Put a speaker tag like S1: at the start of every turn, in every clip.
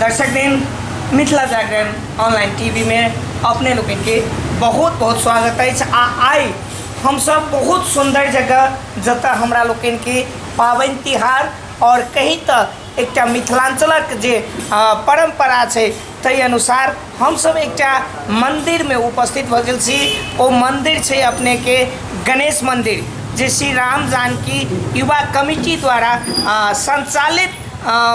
S1: दर्शक दिन Mithila Jagran online TV में अपने लोग के बहुत बहुत स्वागत अछि आ आइ हमसब बहुत सुंदर जगह जतऽ हमरा लोग के पाबनि तिहार और कहीं तऽ एकटा मिथिलांचलक जे अ, परंपरा छै ताहि अनुसार हमसब एकटा मंदिर में उपस्थित भऽ गेल छी ओ मंदिर छै अपने के गणेश मंदिर जे श्री राम जानकी युवा कमिटी द्वारा संचालित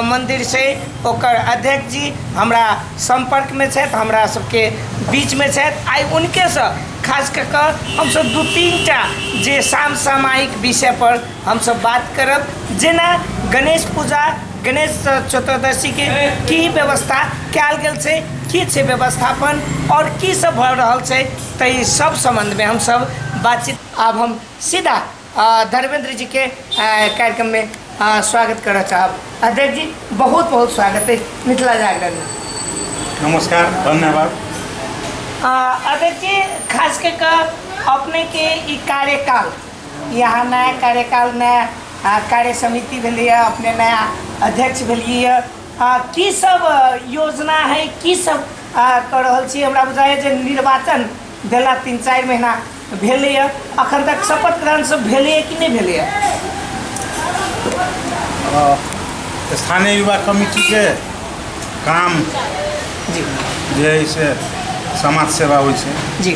S1: मंदिर छै ओकर अध्यक्ष जी हमरा संपर्क में छथि हमरा सबके बीच में छथि आइ उनके से खास कऽ कऽ हमसब दू तीन टा जे साम सामायिक विषय पर हमसब बात करब जेना गणेश पूजा गणेश चतुर्दशी के की व्यवस्था कयल गेल छै की छै व्यवस्थापन और की सब भऽ रहल छै तऽ ई सब संबंध में हम सब बातचीत आब हम सीधा अ, धर्मेंद्र जी के अ, कार्यक्रम में अ, स्वागत करऽ चाहब अध्यक्ष जी बहुत बहुत स्वागत है मिथिला जागरण में नमस्कार
S2: धन्यवाद
S1: अ, अध्यक्ष जी खास करके अपने के ई कार्यकाल यहाँ नया कार्यकाल नया आ, कार्य समिति भेलै है अपने नया अध्यक्ष भेलियै है आ, की सब आ, योजना है की सब आ, कऽ रहल छी हमरा बुझाइए जे निर्वाचन भेला तीन चारि महीना भेलै है अखन तक शपथ ग्रहण सब भेलै है कि नहि भेलै है
S2: अ, स्थानीय युवा कमिटीके काम
S1: जी जे है से
S2: समाज सेवा होइ छै जी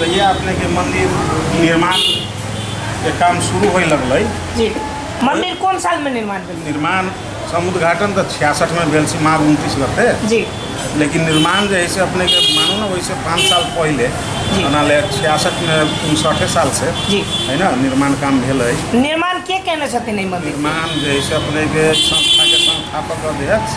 S1: कहिया
S2: अपने के मंदिर निर्माण के काम शुरू होए लगलै जी
S1: मंदिर कौन साल में निर्माण भेल निर्माण सम
S2: उद्घाटन तऽ छियासठ में भेल सी माघ उनतीस गते जी लेकिन
S1: निर्माण
S2: जे है से अपने के मानू ना वैसे पाँच साल पहले जी। बना ले छियासठ में उनसठे साल से जी। है ना
S1: निर्माण
S2: काम भेल है निर्माण के कहने
S1: छथिन एहि मंदिर निर्माण जे है से अपने
S2: के संस्था के संस्थापक अध्यक्ष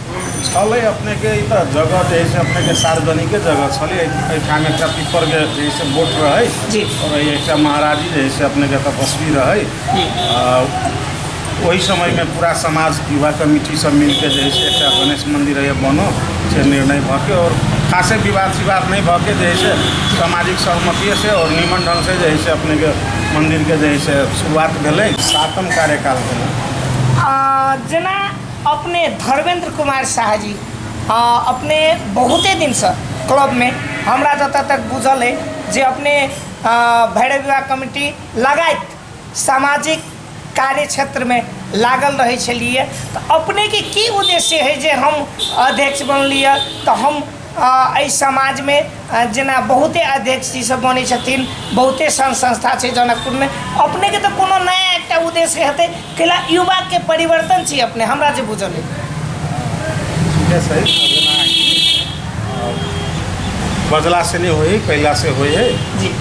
S1: छलै अपनेके
S2: ई तऽ जगह जे है से अपनेके सार्वजनिके जगह छलै एहिठाम एकटा पीपरके जे है से बोट रहै जी। और एहि एकटा महाराजी जे है से अपनेके तपस्वी रहै जी। आ,
S1: ओहि
S2: समयमे पूरा समाज युवा कमिटी सब मिलके जे है से एकटा गणेश मन्दिर है बनो से निर्णय भऽके और खासे विवाद सिवाद नहि भऽके जे है से सामाजिक सहमतिये से और नीमन ढंग से जे है से अपनेके मन्दिरके जे है से शुरुआत भेलै सातम कार्यकाल भेलै आ
S1: जेना अपने धर्मेन्द्र कुमार साह जी अपने बहुते दिनसँ क्लबमे हमरा जतऽ तक बुझल अइ जे अपने भैरव विवाह कमिटी लगाइत सामाजिक कार्य क्षेत्रमे लागल रहै छलिए तऽ अपनेके की उद्देश्य हइ जे हम अध्यक्ष बनलिए तऽ हम एहि समाजमे जेना बहुते अध्यक्ष जी सब बनै छथिन बहुते सङ्घ संस्था छै जनकपुरमे अपनेके तऽ कोनो नया एकटा उद्देश्य हेतै कैला युवाके परिवर्तन छी अपने हमरा जे बुझल अइ ठीके छै
S2: जेना बजला से नहीं होई कैला से होई है जी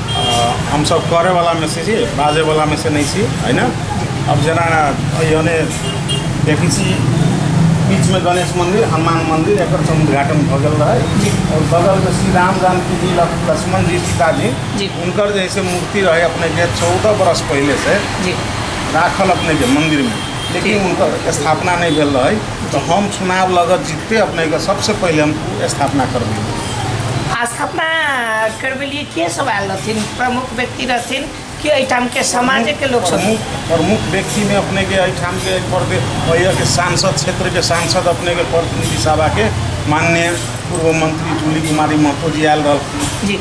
S1: हम सब
S2: करे वाला में से छी बाजे वाला में से नहीं छी है ना अब जेना यानी देखै छी बीचमे गणेश मन्दिर हनुमान मन्दिर एकर सब उद्घाटन भऽ गेल रहै जी। आओर बगलमे श्री राम जानकी जी लक- लक्ष्मण जी सीता जी जी। हुनकर जे है से मूर्ति रहै अपनेके चौदह बरस पहिले से जी
S1: राखल अपनेके
S2: मन्दिरमे लेकिन जी। हुनकर स्थापना नहि भेल रहै तऽ हम चुनाव लगत जीतते अपनेके सबसँ पहिले हम ओ स्थापना करबै आ स्थापना करबेलिए के सब आयल रहथिन
S1: प्रमुख व्यक्ति रहथिन कि एहिठाम के समाज के लोग सब प्रमुख प्रमुख व्यक्ति
S2: में अपने के एहिठाम के प्रदे- अहिया के सांसद क्षेत्र के सांसद अपने के प्रतिनिधि सभा के माननीय पूर्व मंत्री जूली कुमारी महतो जी आयल रहलखिन जी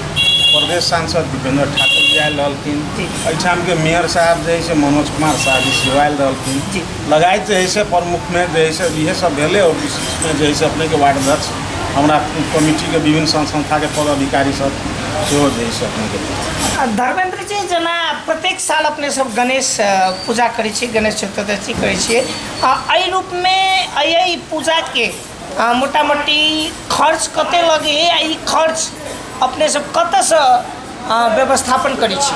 S2: प्रदेश
S1: सांसद
S2: दीपेंद्र ठाकुर जी आयल रहलखिन जी। एहिठाम के मेयर साहब जे है से मनोज कुमार शाह जी सेहो आयल रहलखिन जी। लगायत जे है से प्रमुख में जे है से इहे सब भेले और विशेष में जे है से अपने के वार्ड अध्यक्ष हमरा कमिटी के विभिन्न संस्था के पदाधिकारी सब सेहो जे है से अपने के देब। धर्मेन्द्र जी
S1: जेना प्रत्येक साल अपने सब गणेश पूजा करै छी गणेश चतुर्दशी करै छियै आ एहि रूप मे एहि पूजा के मोटा मोटी खर्च कते लगैया आ ई खर्च अपने सब कतऽ सँ व्यवस्थापन करै छी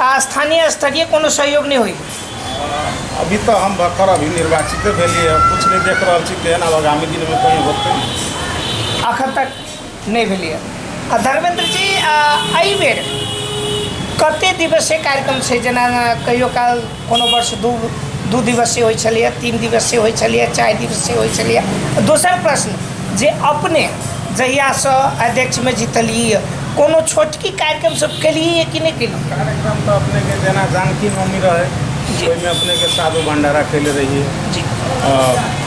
S1: आ स्थानीय स्तरीय कोनो सहयोग नहि होइए अभी
S2: तऽ हम भक्कर अभी निर्वाचिते भेलियै हँ किछु नहि देख रहल छी केहन आब आगामी दिनमे कहीं होतै अखन तक
S1: नहि भेलैए आ धर्मेंद्र जी आ एहि बेर कते दिवसीय कार्यक्रम छै जेना कहियो काल कोनो वर्ष दू दू दिवसीय होइ छलैए तीन दिवसीय होइ छलैए चारि दिवसीय होइ छलैए दोसर प्रश्न जे अपने जहियासँ अध्यक्षमे जीतलियै कोनो छोटकी कार्यक्रम सब केलियै कि नहि केलियै कार्यक्रम तऽ अपनेके
S2: जेना जानकी नवमी रहै ओहिमे अपनेके साधु भंडारा कैले रहियै जी आ,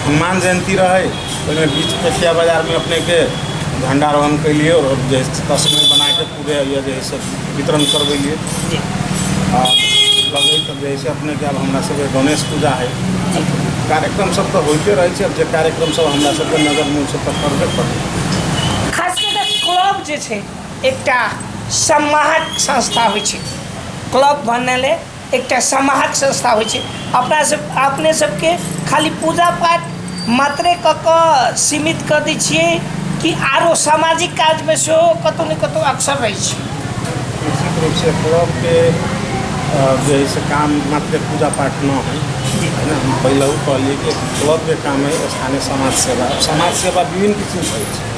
S1: हनुमान
S2: जयंती रहै ओहिमे बीच पेठिया बाजारमे अपनेके झंडारोहण कैलियै आओर जे तस्मै बनाके उदय यऽ जे से वितरण करबै लिए जी
S1: आ
S2: लगै तऽ जे से अपने के हमरा सबके गणेश पूजा है जी कार्यक्रम सब तऽ होइते रहै छै जे कार्यक्रम सब हमरा सबके नगर मूल से तऽ करबे करै खास कऽ कऽ
S1: क्लब जे छै एकटा सम्माहक संस्था होइ छै क्लब बनले एकटा समाहक संस्था होइ छै अपना सब अपने सबके खाली पूजा पाठ मात्रे कऽ कऽ सीमित कऽ दै छिए कि आओर सामाजिक काजमे सेहो कतहु ने कतहु अक्सर रहै छी निश्चित
S2: रूपसँ क्लबके जे हइ से काम मात्रे पूजा पाठ नहि हइ है ने हम पहिलहु कहलिए कि क्लबके काम हइ स्थानीय समाज सेवा समाज सेवा विभिन्न किसिमके होइ छै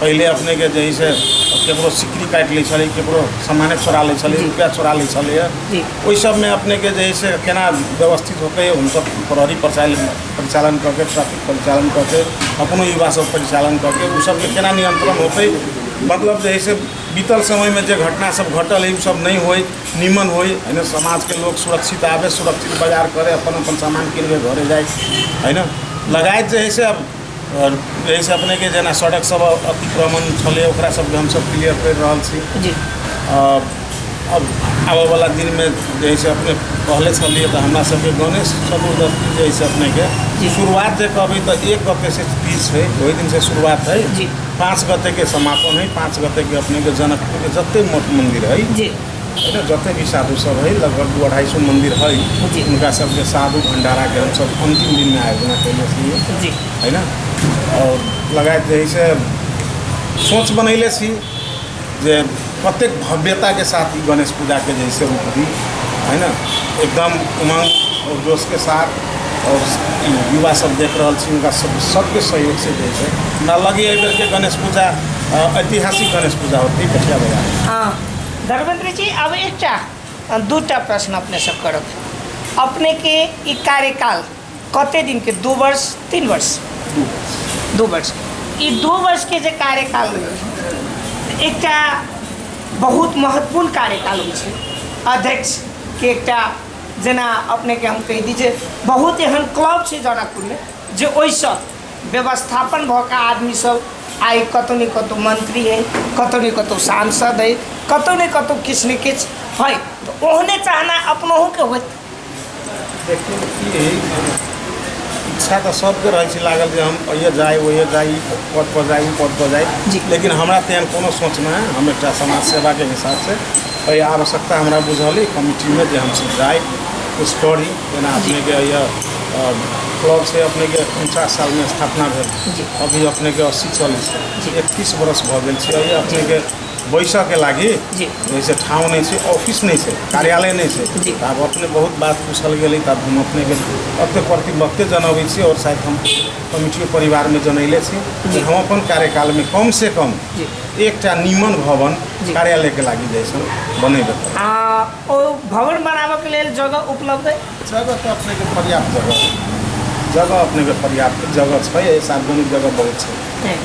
S2: पहिले अपने के जे से केकरो सिकरी काटि लै छलै केकरो सामाने छोड़ा लै छलै रुपैआ छोड़ा लै छलैए ओहि सबमे अपने के जे से केना व्यवस्थित होके हमसब प्रहरी प्रशासन परिचालन कऽ के ट्रैफिक परिचालन कऽ के अपनो युवा सब परिचालन कऽ के ओ सबके केना नियंत्रण होतै मतलब जे से बीतल समयमे जे घटना सब घटल है ओ सब नहि होइ नीमन होइ है ने समाजके लोक सुरक्षित आबै सुरक्षित बाजार करै अपन अपन सामान किनके घरे जाइ है ने लगायत जे है से अब आओर एहिसँ अपनेके जेना सड़क सब अतिक्रमण छलै ओकरा सबके हमसब क्लियर करि रहल छी जी अब आबऽवला दिनमे जे है से अपने कहले छलियै तऽ हमरा सबके गणेश चतुर्दशी जे है से अपनेके जी। शुरुआत जे कहबै तऽ एक गते से तीज छै ओहि दिन से शुरुआत है जी। पाँच गते के समापन है पाँच गते के अपने के जनकपुर के जते मठ मंदिर है जी। एहिमे जते भी साधु सब है लगभग दू अढ़ाई सौ मंदिर है जी। उनका सबके साधु भंडारा के हम सब अंतिम दिन में आयोजन कैले छी जी है ना और लगायत जे है से सोच बनैले छी जे कतेक भव्यता के साथ ई गणेश पूजा के जे है से रूप दी है ना एकदम उमंग और जोश के साथ और ई युवा सब देख रहल छी उनका सब सबके सहयोग से जे है से हमरा लगे एहि बेर के गणेश पूजा अ, ऐतिहासिक गणेश पूजा होती कठिया बाजार हाँ
S1: धर्मेन्द्र जी आब एकटा दूटा प्रश्न अपने से करब अपने के ई कार्यकाल कते दिन के दू वर्ष तीन वर्ष दू वर्ष ई दू वर्ष के जे कार्यकाल रहल, एकटा बहुत महत्वपूर्ण कार्यकाल होइ छै अध्यक्ष के एकटा जेना अपने के हम कहि दी जे बहुत एहन क्लब छै जनकपुर में जे ओहिसँ व्यवस्थापन भऽ कऽ आदमी सब आइ कतौ ने कतौ मंत्री है कतौ ने कतौ सांसद है कतौ ने कतौ किछु ने किछु है तऽ ओहने चाहना अपनहु के होत देखियौ
S2: की है इच्छा तऽ सबके रहै छै लागल जे हम अइए जाइ ओइए जाइ पद पर जाइ पद पर जाइ जी। लेकिन हमरा तेहन कोनो सोच नहि है हम एकटा समाज सेवा के हिसाब से एहि आवश्यकता हमरा बुझल है कमिटी मे जे हम सब जाइ कुछ करी जेना अपनेके यह क्लब से अपनेके उनचास सालमे स्थापना भेल जी। अभी अपनेके अस्सी चलै छै जी। एकतीस बरस भऽ गेल छै अभी अपनेके बैसऽके लागि जी। जैसे ठाउँ
S1: नहि
S2: छै ऑफिस नहि छै कार्यालय नहि छै जी। तऽ आब अपने बहुत
S1: बात
S2: पूछल गेलै तऽ आब हम अपनेके अते प्रति वक्ते जनबै छी आओर शायद हम कमिटियो परिवारमे जनैले छी जे हम अपन
S1: कार्यकालमे
S2: कम से कम जी। एकटा
S1: नीमन
S2: भवन जी। कार्यालयके लागि
S1: जैसन
S2: बनेबै आ ओ
S1: भवन बनाबऽ के लेल जगह उपलब्ध है जगह तऽ अपनेके
S2: पर्याप्त जगह है। जगह अपनेके पर्याप्त जगह छै एहि सार्वजनिक जगह बहुत छै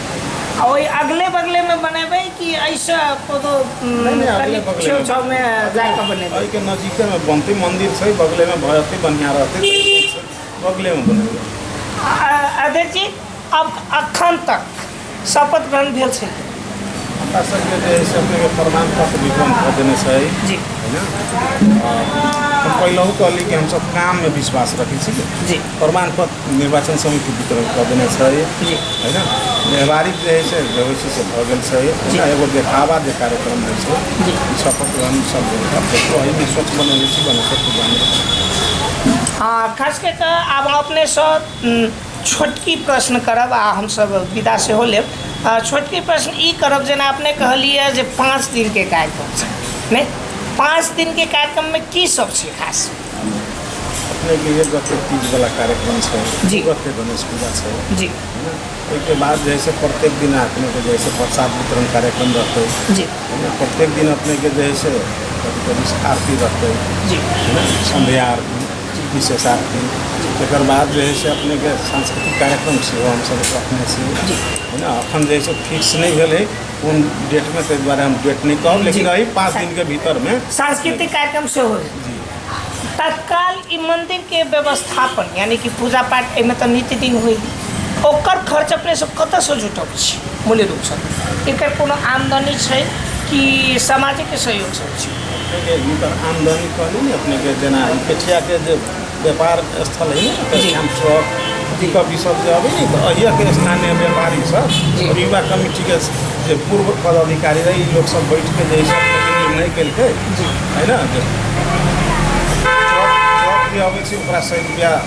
S2: आ ओहि
S1: अगले बगले में बनेबै कि ऐसे कोनो उम, नहि, नहि, अगले कनि बगले
S2: छेउ में।
S1: छाव में जाके बनेबै एहिके नजिकेमे
S2: बनतै मन्दिर छै बगलेमे भए जेतै बढ़िआँ रहतै बगलेमे बनेबै आ-
S1: अध्यक्ष जी अब अखन तक शपथ ग्रहण भेल छै हमरा
S2: सबके जे है से अपने के प्रमाण पत्र वितरण कर देने छै जी है
S1: ना
S2: आ, हम पहलहू कहली कि हम सब काम में विश्वास रखे छी जी प्रमाण पत्र निर्वाचन समिति वितरण कर देने छै जी है
S1: ना
S2: व्यवहारिक जे है से भविष्य से भऽ गेल छै जी। ना एगो देखावा जे कार्यक्रम होइ छै जी शपथ ग्रहण
S1: सब
S2: अब देखो है में स्वच्छ बनल छी बनल सब जाने आ खास
S1: कऽ कऽ आब अपने सब उम, छोटकी प्रश्न करब आ हमसब विदा सेहो लेब छोटकी प्रश्न ई करब जेना अपने कहलिए जे पाँच दिनके कार्यक्रम छै नहि पाँच दिनके कार्यक्रममे की सब छै खास
S2: अपनेके एक गते तीजवला कार्यक्रम छै जी गते गणेश
S1: पूजा
S2: छै जी
S1: ओहिके
S2: बाद जे है से प्रत्येक दिन अपनेके जे है से प्रसाद वितरण कार्यक्रम रहतै जी
S1: प्रत्येक दिन
S2: अपनेके जे है से कभी कभी आरती रहतै जी
S1: संध्या
S2: आरती विशेष आरती तकर बाद जे है से अपनेके सांस्कृतिक कार्यक्रम सेहो हमसभ रखने छी है ना एखन
S1: जे है
S2: से फिक्स नहि भेल है कोन डेटमे ताहि दुआरे हम डेट नहि कहब लेकिन एहि पाँच दिनके भीतरमे सांस्कृतिक कार्यक्रम
S1: सेहो होय
S2: तत्काल
S1: ई मंदिर के व्यवस्थापन यानी कि पूजा पाठ एहिमे तऽ नित्य दिन होय ओकर खर्च अपने सब कतऽ से जुटब छी मूल्य रूपसँ एकर कोनो आमदनी छै कि सामाजिक सहयोग सब छै अपनेके हिनकर
S2: आमदनी कहली ने अपनेके जेना ई पेठियाके जे व्यापार स्थल है ने जी। श्याम चौक पिकअप ई सब जे अभी ने तऽ अहियाके स्थानीय व्यापारी सब जी। और युवा कमिटीके जे पूर्व पदाधिकारी रहे ई लोग सब बैठके जे ई सब अपनेके निर्णय केलकै जी। है ना जे ट्रक ट्रक जे अबै छै ओकरा सय रुपैआ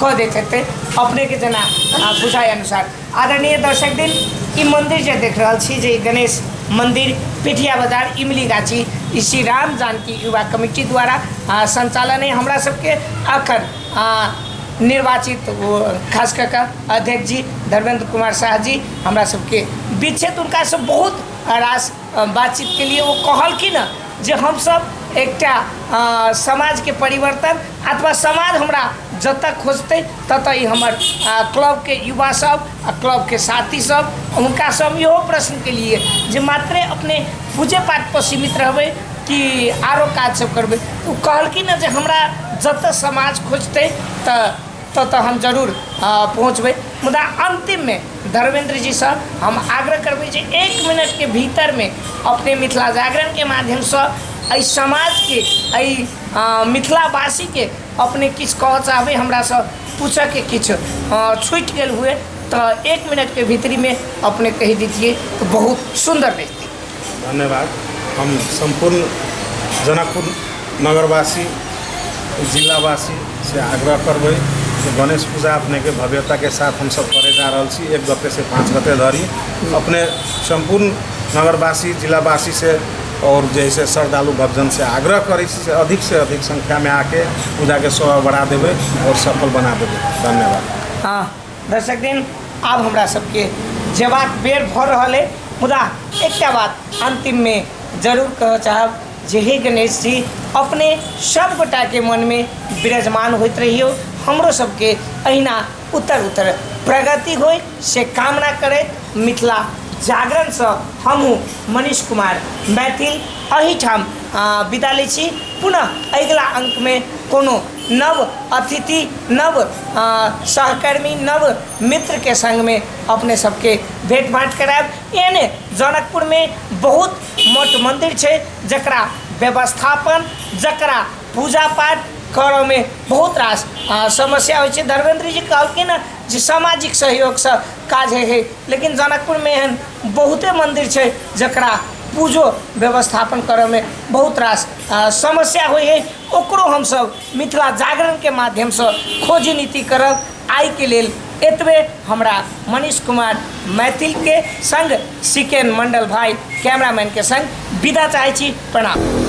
S1: कऽ दैत हेतै अपनेके जेना बुझाइ अनुसार आदरणीय दर्शक दिन ई मन्दिर जे देख रहल छी जे गणेश मन्दिर पिठिया बजार इमली गाछी ई श्री राम जानकी युवा कमिटी द्वारा सञ्चालन अइ हमरा सबके अखन निर्वाचित ओ खास कऽ कऽ अध्यक्ष जी धर्मेन्द्र कुमार साह जी हमरा सबके बीच छथि हुनकासँ बहुत रास बातचीत के लिए ओ कहलखिन हँ जे हमसब एकटा अ, समाज के परिवर्तन अथवा समाज हमरा जतऽ खोजतै ततऽ ई हमर अ, क्लब के युवा सब आ क्लब के साथी सब हुनका से हम इहो प्रश्न के लिए जे मात्रे अपने पूजे पाठ पर सीमित रहबै कि आरो काज सब करबै ओ कहलखिन हँ जे हमरा जतऽ समाज खोजतै तऽ तऽ तऽ हम जरूर पहुँचबै मुदा अन्तिममे धर्मेन्द्र जीसँ हम आग्रह करबै जे एक मिनटके भीतरमे अपने मिथिला जागरणके माध्यमसँ एहि समाजके एहि मिथिलावासीके अपने किछु कहऽ चाहबै हमरासँ पूछैके किछु छुटि गेल हुअए तऽ एक मिनटके भीतरमे अपने कहि देतिए तऽ बहुत सुन्दर रहितै धन्यवाद
S2: हम सम्पूर्ण जनकपुर नगरवासी जिलावासी से आग्रह करबै जे गणेश पूजा अपनेके भव्यताके साथ हमसब करे जा रहल छी एक गते से पाँच गते धरि अपने सम्पूर्ण नगरवासी जिलावासी से और जे है से श्रद्धालु भक्तजन से आग्रह करै छी जे अधिक से अधिक संख्यामे आके पूजाके शोभा बढ़ा देबै और सफल बना देबै धन्यवाद हँ
S1: दर्शक दिन आब हमरा सबके जेबाक बेर भऽ रहल अइ मुदा एकटा बात अन्तिममे जरूर कहऽ चाहब जे हे गणेश जी अपने सब गोटाके मनमे विराजमान होइत रहिऔ हमरो सबके एहिना उत्तर उत्तर प्रगति होइ से कामना करैत मिथिला जागरणसँ हमहूँ मनीष कुमार मैथिल एहिठाम विदा लै छी पुनः अगिला अङ्कमे कोनो नव अतिथि नव सहकर्मी नव मित्रके सङ्गमे अपने सबके भेट घाँट कराएब एहने जनकपुरमे बहुत मठ मन्दिर छै जकरा व्यवस्थापन जकरा पूजा पाठ करऽमे बहुत रास समस्या होइ छै धर्मेन्द्र जी कहलखिन हँ जे सामाजिक सहयोगसँ काज होइ छै लेकिन जनकपुरमे एहन बहुते मन्दिर छै जकरा पूजो व्यवस्थापन करऽमे बहुत रास समस्या होइ है ओकरो हमसब मिथिला जागरणके माध्यमसँ खोजी नीति करब आइके लेल एतबे हमरा मनीष कुमार मैथिलके सङ्ग सिकेन मण्डल भाइ कैमरामैनके सङ्ग विदा चाहै छी प्रणाम